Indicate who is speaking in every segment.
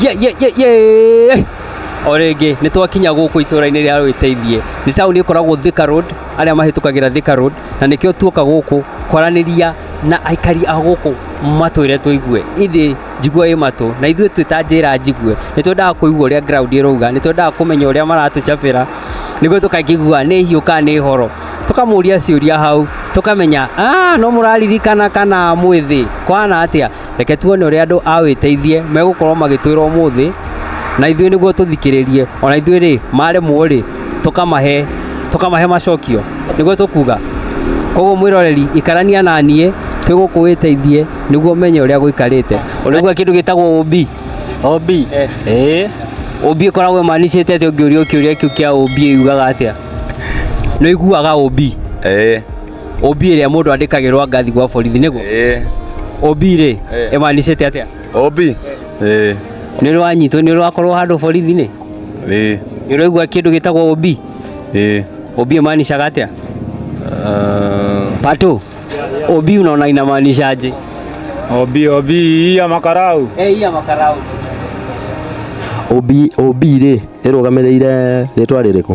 Speaker 1: ye ye ye ye o rĩngĩ nĩ twakinya gũkũ itũra-inĩ rĩa Rwĩteithie nĩ taũni ĩkoragwo Thika Road arĩa mahĩtũkagĩra Thika Road na nĩkĩo tuoka gũkũ kwaranĩria na aikari a gũkũ matwĩre tũigue ĩndĩ njigua ĩ matũ na ithuĩ twĩ ta njĩra njigue nĩ twendaga kũigua ũrĩa ground ĩrauga nĩ twendaga kũmenya ũrĩa maratũcabĩra nĩguo tũkakĩigua nĩ hiũ kana nĩ horo tũkamũria ciũria hau tũkamenya "Ah, no mũraririkana kana mwĩthĩ kwana atĩa reke tuone ũrĩa andũ a wĩteithie megũkorwo magĩtwĩra ũmũthĩ na ithuĩ nĩguo tũthikĩrĩrie ona ithuĩ rĩ maremwo rĩ tũkamahe tũkamahe macokio nĩguo tũkuga koguo mwĩroreri ikarania na niĩ twĩ gũkũ wĩteithie nĩguo menye ũrĩa gũikarĩte ũrĩgua kĩndũ gĩtagwo ũmbi ũmbi ĩĩ ũmbi ĩkoragwo ĩmanicĩte atĩ ũngĩũrio kĩũria kĩu kĩa ũmbi yugaga atĩa nĩ ũiguaga ũmbi ĩĩ OB ĩrĩa mũndũ andĩkagĩrwo angathi gwa borithi nĩguo Eh. OB rĩ Eh. ĩmanicĩte atĩa OB. Eh. nĩ ũrĩ wanyitwo nĩ ũrĩ wakorwo handũ borithi-inĩ Eh. nĩ ũraigua kĩndũ gĩtagwo OB Eh. OB ĩmanicaga atĩa Ah. Pato OB unaona inamaanisha aje OB OB
Speaker 2: ya makarau. eh iya makarau
Speaker 1: OB
Speaker 3: OB rĩ ĩrũgamĩrĩire rĩtwa rĩrĩkũ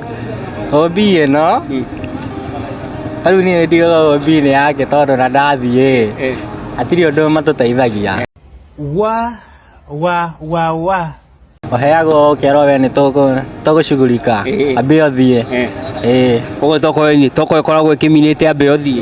Speaker 4: OB ĩno rĩu niĩ nĩ ndiũĩ OB nĩ yake tondũ ona ndathiĩ ĩ hatirĩ ũndũ matũteithagia. Wa wa wa wa. Ũheagwo ũkerwo we nĩ tũgũcugurika ambia ũthiĩ. Ĩĩ.
Speaker 1: Ũguo tokorwo ĩkoragwo ĩkĩminĩte ambia ũthiĩ.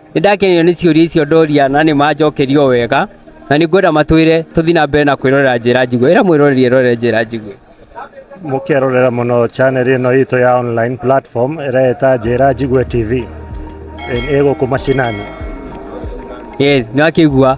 Speaker 1: Nĩ ndakenio nĩ ciũria icio ndoria na nĩ manjokerio wega na nĩ ngwenda matwĩre tũthiĩ na mbere na kwĩrorera njĩra njigue. Ĩra mwĩroreri erorere njĩra njigue. Mũkerorera
Speaker 2: mũno channel ĩno itũ ya online platform ĩreeta Njĩra Njigue TV.
Speaker 1: Ĩ- Ĩ gũkũ
Speaker 2: mashinani.
Speaker 1: Yes, nĩ
Speaker 2: wakĩigua.